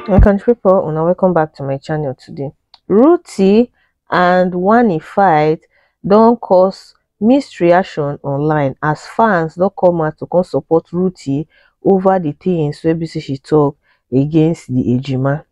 my country people una welcome back to my channel today ruti and wani fight don cause mixed reaction online as fans don come out to come support ruti over the things wey be say she talk against the ejima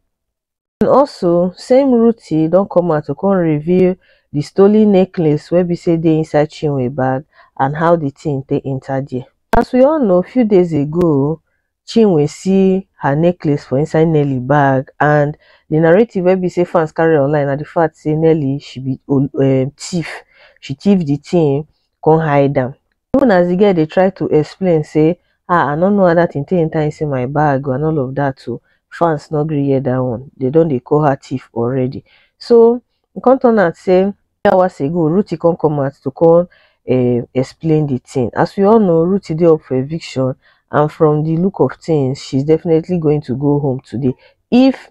and also same ruthee don come out to come reveal the stolen necklace wey be say dey inside chinwe bag and how the thing take enter there as we all know few days ago chinwe see her necklace for inside nelly bag and the narrative wey be say fans carry online na the fact say nelly she be um, thief she thief the thing come hide am even as the girl dey try to explain say ah i no know how that thing take enter inside my bag and all of that o fans no gree hear that one they don dey call her thief already so e come turn out say hours ago ruti come come out to come um explain the thing as we all know ruti dey up for eviction and from the look of things she's definitely going to go home today if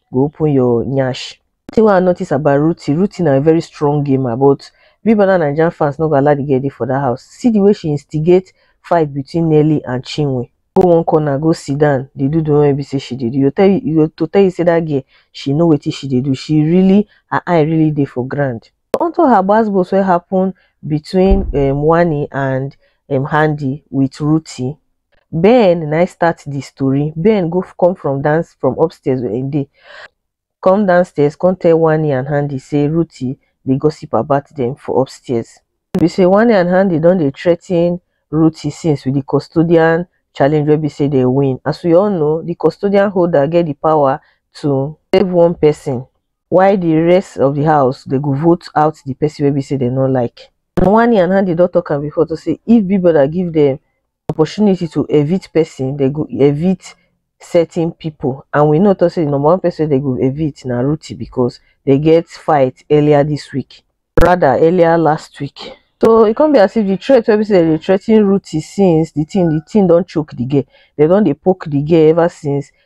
go open your nyash. Thing wey I notice about Ruthie, Ruthie na very strong gamer but Big Brother Nigerian fans no go allow the girl dey for that house. See the way she instigate fight between Nelly and Chinwe. Go one corner go sit down dey do the one wey be say she dey do. You go tell you, you go to tell you say that girl she know wetin she dey do. She really her eye really dey for ground. Unto her gbas gbos wey happen between um Wanni and um Handi with Ruthie. Ben na im start the story. Ben go come from dance from upstairs where he dey, come downstairs come tell Wani and Handy say Ruthie dey gossip about them for upstairs. E be say Wani and Handy don dey threaten Ruthie since with the custodian challenge wey be say they win. As we all know, the custodian holder get the power to save one person while the rest of the house they go vote out the person wey be say they no like. And Wani and Handy don talk am before to say if Big Brother give them opportunity to evict person, dem go evict certain people and we know talk say the number one person dem go evict na Ruti because they get fight earlier this week rather earlier last week so e come be as if the threat wey be say dem dey threaten Ruti since the thing the thing don choke the girl dem don dey poke the girl ever since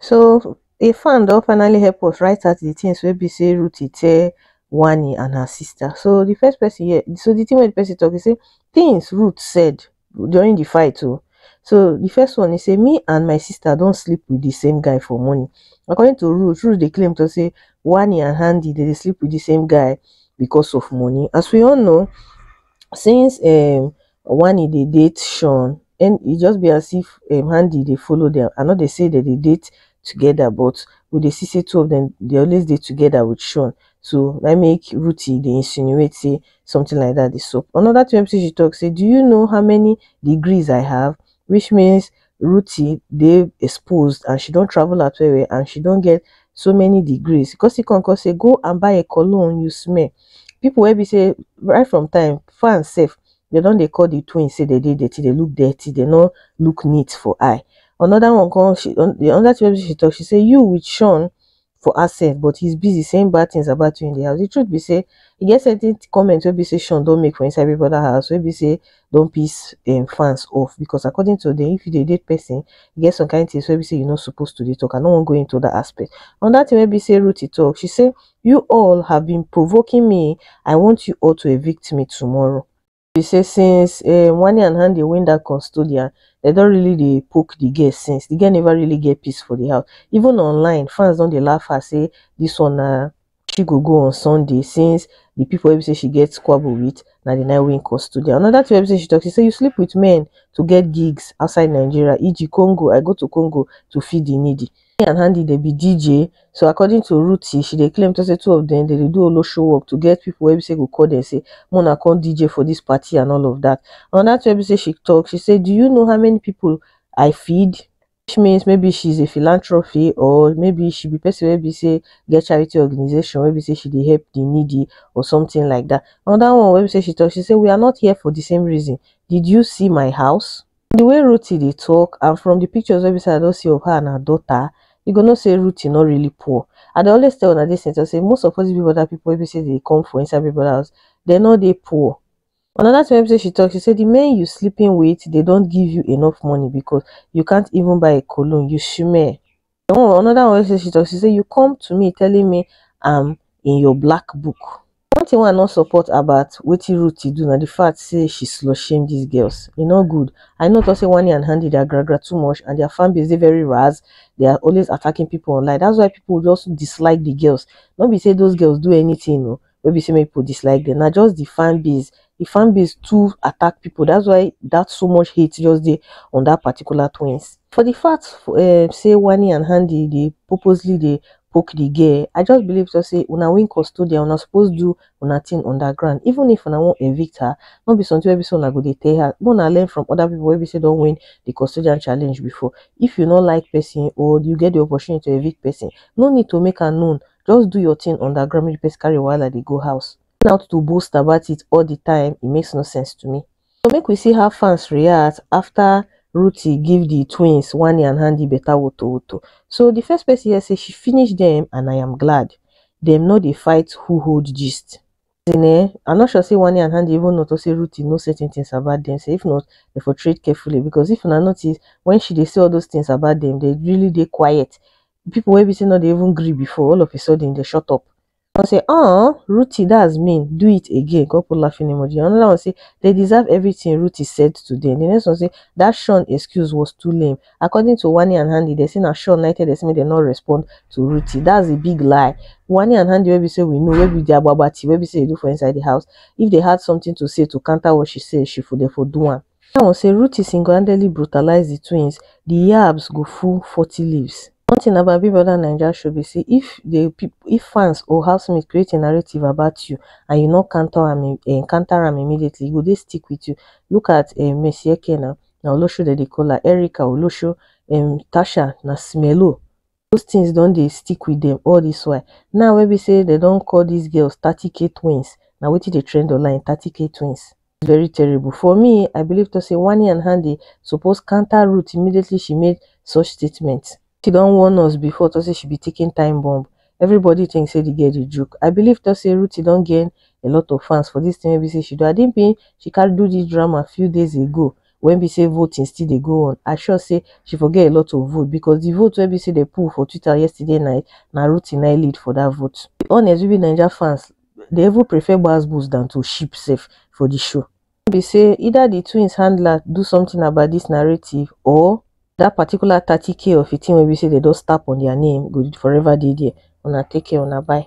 So a fan don finally help us write out the things wey be say Ruthie tell Wani and her sister. So the first person here, so the thing wey the person talk, he say things Ruth said during the fight o. Oh. So the first one he say me and my sister don sleep with the same guy for morning. According to Ruth, Ruth dey claim to say Wani and Handy dey dey sleep with the same guy because of money. As we all know, since um, One e dey date Sean and e just be as if um Handi dey follow dem. I no dey say dem dey date together but we dey see say two of dem dey always dey together with Sean. So na im make Ruthie dey insinuate say something like that dey sup. Another thing wey be say she talk say do you know how many degrees I have? Which means Ruthie dey exposed and she don travel out well well and she don get so many degrees. He come still come come say go and buy a cologne you smell. People wey be say right from time fans sef dem don dey call the twins say dem dey dirty, dem look dirty, dem no look neat for eye. Another one come she another thing wey be say she talk she say you with Sean for herself but he's busy saying bad things about you in the house. The truth be say, e get certain comments wey be say Sean don make for inside Big Brother house wey be say don piss um, fans off because according to them, if you dey date person, e get some kind things wey be say you no supposed to dey talk. I no wan go into that aspect. Another thing wey be say Ruthie talk, she say, you all have been provoking me. I want you all to evict me tomorrow. be say since um Wani and Hande win that custodian, dem don really dey poke the girl since. The girl never really get peace for the house. Even online, fans don dey laugh her say this one na she go go on Sunday since the people wey be say she get squabble with na the nine win custodian. Another thing wey be say she talk, she say you sleep with men to get gigs outside Nigeria, e.g. Congo, I go to Congo to feed the needy. Hanni and Handi dey be DJ so according to Ruthie she dey claim say two of dem dey do olosho work to get people wey be say go call dem say make una come DJ for this party and all of that. Another thing wey be say she talk she say do you know how many people I feed which means maybe she is a philanthropy or maybe she be person wey be say get charity organization wey be say she dey help the needy or something like that. Another one wey be say she talk she say we are not here for the same reason did you see my house? the way Ruthie dey talk and from the pictures wey be say I don see of her and her daughter, you go know say Ruthie no really poor. I dey always tell una this thing talk say most of all these Big Brother people wey be say dey come for inside Big Brother house, they no dey poor. Another thing wey be say she talk, she say the men you sleeping with, they don't give you enough money because you can't even buy a cologne, you shmeh. the one another one wey say she talk she say you come to me telling me am in your black book one thing wey i no support about wetin Ruti do na the fact say she slut shame these girls e no good i no talk say Wani and Handi their gra gra too much and their fan base dey very raz they are always attacking people online that's why people just dislike the girls no be say those girls do anything o no be say make people dislike them, na just the fan base, the fan base too attack people. That's why that so much hate just dey on that particular twins. For the fact um, say Wani and Handy dey purposely dey poke the girl, I just believe just say una win custodian, una suppose do una thing underground. Even if una wan evict her, no be something wey be say una go dey tell her. Make una learn from other people wey be say don win the custodian challenge before. If you no like person or you get the opportunity to evict person, no need to make am known just do your thing on that grammy replace carry wahala dey go house going out to boast about it all the time it makes no sense to me so make we see how fans react after Ruthie give the twins Wani and Handy better woto woto so the first person here say she finish them and I am glad them no dey fight who hold gist as in eh I'm not sure say Wani and Handy even notice say Ruthie know certain things about them say if not they for trade carefully because if una notice when she dey say all those things about them they really dey quiet people wey be say no dey even gree before all of a sudden they shut up one say uh ruti that's mean do it again come put laughing emoji another one say they deserve everything ruti said today the next one say that sean excuse was too lame according to wani and handy they say na sean na tell them say make dem no respond to ruti that's a big lie wani and handy wey be say we know wey be the agbagba tea wey be say they do for inside the house if they had something to say to counter what she said she for dey for do am Seun say Ruti single-handedly brutalize di twins, di yabs go full forty leaves. One thing about Big Brother Naija show be say if the if fans or housemates create a narrative about you and you no counter am um counter am immediately, e go dey stick with you. Look at um Mercy Eke now, na Olosho dem dey call her, Erica, Olosho, um Tasha na Smello. those things don dey stick with dem all this while. Now wey be say dem don call these girls 30k twins, na wetin dey trend online 30k twins. Very terrible. For me, I believe talk say Wanni and Hande suppose counter Ruth immediately she made such statement. She don warn us before talk say she be ticking time bomb. Everybody think say the girl dey joke. I believe talk say Ruth don gain a lot of fans for this thing wey be say she do. Adi bin she carry do this drama few days ago wen be sey voting still dey go on, I sure sey she for get a lot of vote because di vote wen be sey dem put for twitter yesterday night na Ruti na im lead for dat vote. To be honest we be naija fans dey even prefer gbas-gbos dan to ship sef for di show. Wen be sey either di twins handler do something about dis narrative or dat particular thirty k of a thing wen be sey dem just tap on their name go forever dey there, una take care una bye.